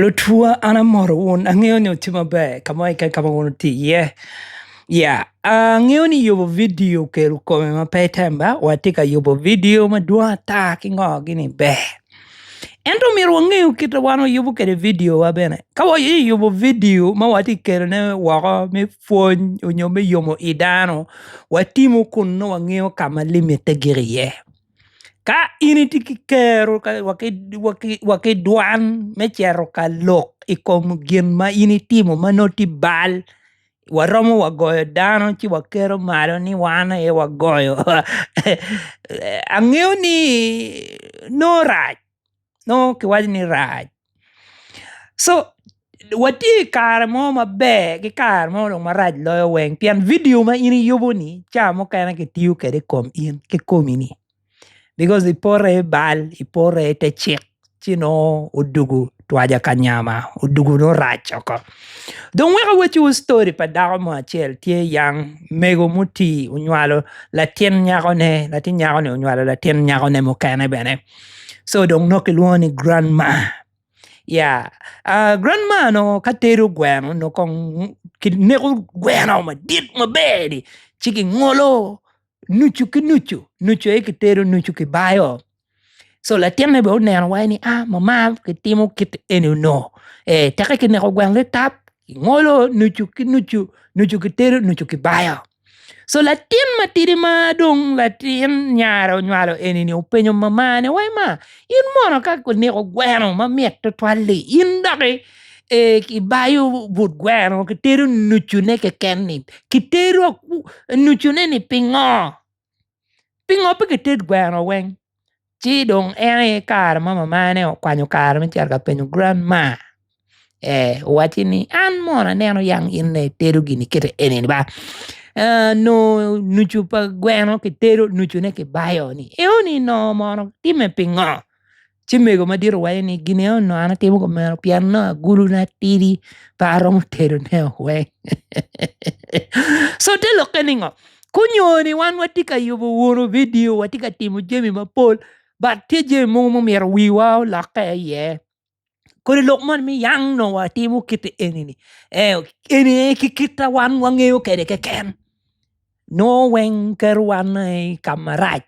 Lutwa an amoto wun angeyo ni wutye maber kamo keken kama wun wutye i ye ya angeyo ni yubo video okelo kome ma pe tem ba wa tye ka yubo video madwong ata ki ngo gini ber ento myero wange kit ma wan wayubo kwede video wa bene ka wa aye yubo video ma watye ka kelone woko me pwony nyo me yomo i dano watimu kun nongo wangeyo kama limite gik iye. Ka in itye ki kero wa ki dwan me cito ka lok i kom gin ma in itimo ma nongo tye bal waromo wa goyo dano ci wakelo malo ni wan aye wagoyo angeyo ni nongo rac. nongo kiwaco ni rac so watye i kare mo maber ki kare mo dong marac loyo weng pien vidio ma in iyubo ni ca mukene kitiyo kwede i kom in ki komi-ni bikos ipote i bal ipote i te cik ci nongo odwogo twaja ka nyama odwogo nongo rac oko dong wek awacciwu ctori pa dako mo acel tye yang mego mutii onywalo latin nyakone latin nyakoni onywalo latin nyakone mukene bene so dong nongo kilwongo ni grand ma ya grand ma dong ka tedo gweno dong kong kineko gweno madit maber-ri ci kingolo nucu ki nucu, nucu aye kitedo nucu kibayo so latinne bene oneno waci ni a mama kitimo kit eni onongo ee teka kineko gweno litap kingolo nucu ki nucu, nucu kitedo nucu kibayo. So latin matidi ma dong latin nyare onywalo eni-ni openyo mamane, Wai ma, in mono ka kiniko gweno ma mit tutwal-li, in doki ibayo but gweno kitedo nucune keken-ni? Kitedo nucune-ni pingo? Pingo pe kited gweno weng? Ci dong en aye kare ma mamane okwanyo kare me cito ka penyo gran ma ee owacci ni an mono aneno yang in aye itedo gini kite eni ni ba aa nongo nucu pa gweno kitedo nucune kibayo ni eo ni nongo mono timme pingo? Ci mego madit owacco ni, Gineo nongo an atimo kumeno pien nongo aguluna tidi pe aromo tedone weng. so te lokke ni ngo? Kunyoni wan watye ka yubo wunu vidio, watye ka timo jami mapol, but tye jami mogo mumito wiwa olokke iye. Kodi lok moni mi yang nongo watimo kite eni-ni. Eh, eni aye ki kita wan wangeyo kede keken. Nongo weng keto wan i ka marac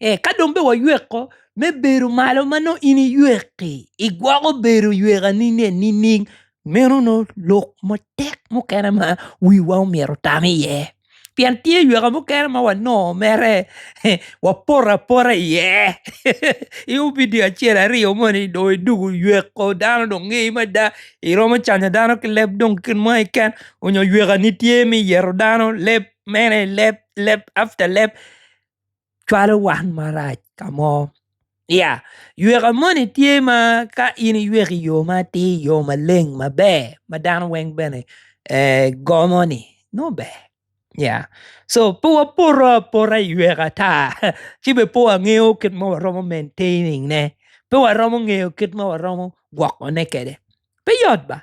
ee ka dong bene wayweko me bedo malo ma nongo in iywek-ki igwoko bedo ywekani nining meno nongo lok matek mukene ma wiwa myero otam iye pien tye yweka mukene ma wanongo mere wapoto apota iye i opidio acel aryo moni dong idwogo oyweko dano dong ngeyi mada iromo canyo dano ki leb dong kit mo keken onyo ywekani tye me yero dano leb mene leb leb after leb. cwalo wan marac ka mo ya yweka moni tye ma ka in iyweko iyo ma atir iyo maleng maber ma dano weng bene gomo ni nongo ber ya so pe wapoto apota i yweka ata ci bene pe wangeyo kit ma waromo maintaining ne pe waromo ngeyo kit ma waromo gwokone kwede pe yot ba.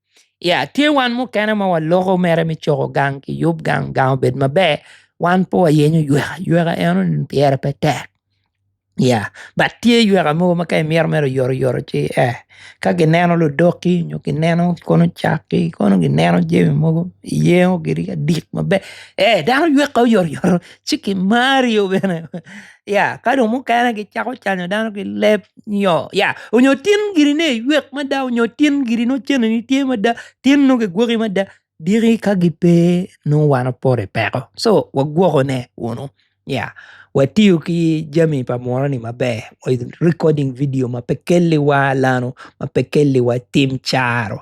Ya tye wan mukene ma waloko mere me coko gang ki yub gang gang obed maber wan pe wayenyo yweka yweka eno ni pyere pe tek ya bat tye yweka mogo ma ka imito mere oyoto oyoto ci ee ka gineno ludok-ki nyo gineno kono cak-ki kono gineno jami mogo iyengo giri adik maber ee dano yweka oyotoyot ci kimari bene. ka dong mukene gicako canyo dano ki leb nyo tin giri ni iywek mada nyo tin giri nongo cente tye mada tin nongo kigwoki mada diki ka gipe nongo wan wapoto i peko so wagwokone kunu watiyo ki jami pa muroni maber recoding vidio ma pe kelliwa lano ma pe kelliwa tim caro.